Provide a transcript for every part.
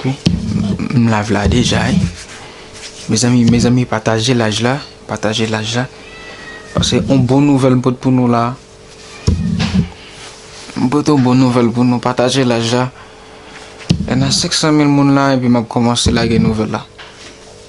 M live la deja wi Mezanmi mezanmi pataje live la Pataje live la Pase yon bon nouvèl m pot pou nou la M pot yon bon nouvèl pou nou pataje live la Lè nan 500 mil moun la epi map kòmanse lage nouvèl la.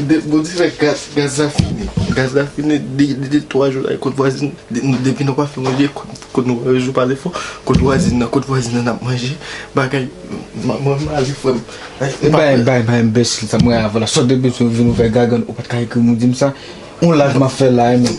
Bondye fè gaz la fini. Gaz la fini depi 3 jou la kot vwazin nan. Depi nou pa fè manje kot nou pa jwe pale fò. Kot vwazin nan, kot vwazin nan nap manje. Bagay mwen male frè m. Bay bay enbesil sa mwen avèw la. Sot depi sou vin ou fè gagann ou pat ka ekri m ou di m sa. On live map fè la e men.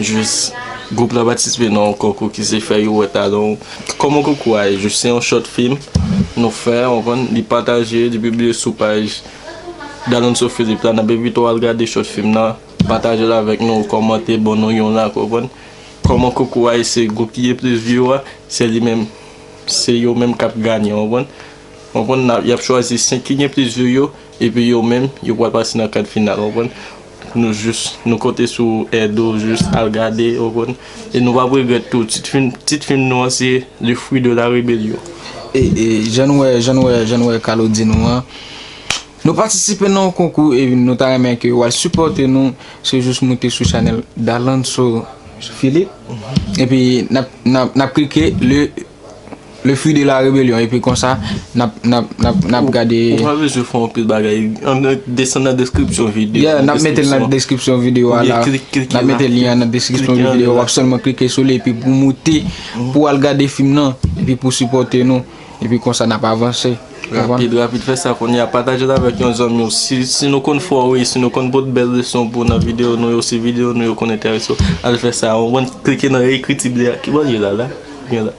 jis gwoup la patisipe nan yon konkou ki se fè yo wè talan w. Kòman konkou a ye? Jis se yon short film nou fè, ou konprann, li pataje, li pibliye sou paj Dalonso Philippe la. N ap envite w al gade short film nan, pataje l avèk nou, kòmante, ban nou yon like, ou konprann. Kòman konkou a ye? Se gwoup ki gen plis view a, se li menm, se yo menm k ap ganye, ou konprann. Ou konprann, y ap chwazi 5 ki gen plis view yo. Epi yo menm yo pwal pase nan kad final ou konprann nou jis nou konte sou èd ou jis al gade ou konprann e nou pap regrèt tou tit fim tit fim nou an se le fruit de la rébellion. E e jan nou wè jan nou wè jan nou wè Carlo di nou an nou patisipe nan yon konkou e nou ta renmen ke ou al sipòte nou se jis moute sou chanèl Dalantso Philippe epi nap nap nap klike le. Le fruit de la rebellion epi konsa nap gade. Ou pa bezwen fè anpil bagay. Desann nan deskripsyon videyo. Yeah nap mete l nan deskripsyon videyo a la. Nap mete lyen an nan deskripsyon videyo a. Wap sèlman klike sou li epi pou moute pou al gade fim nan epi pou sipòte nou epi konsa nap avanse. Rapid rapid fè sa kounye a pataje l avèk yon zanmi w. Si nou konn fè w ri, si nou konn pote bèl leson pou w nan videyo nou yo, si videyo nou yo konn enterese w, al fè sa. Ou konprann? Klike nan ekriti ble a. Kibò l ye la la? Byen la.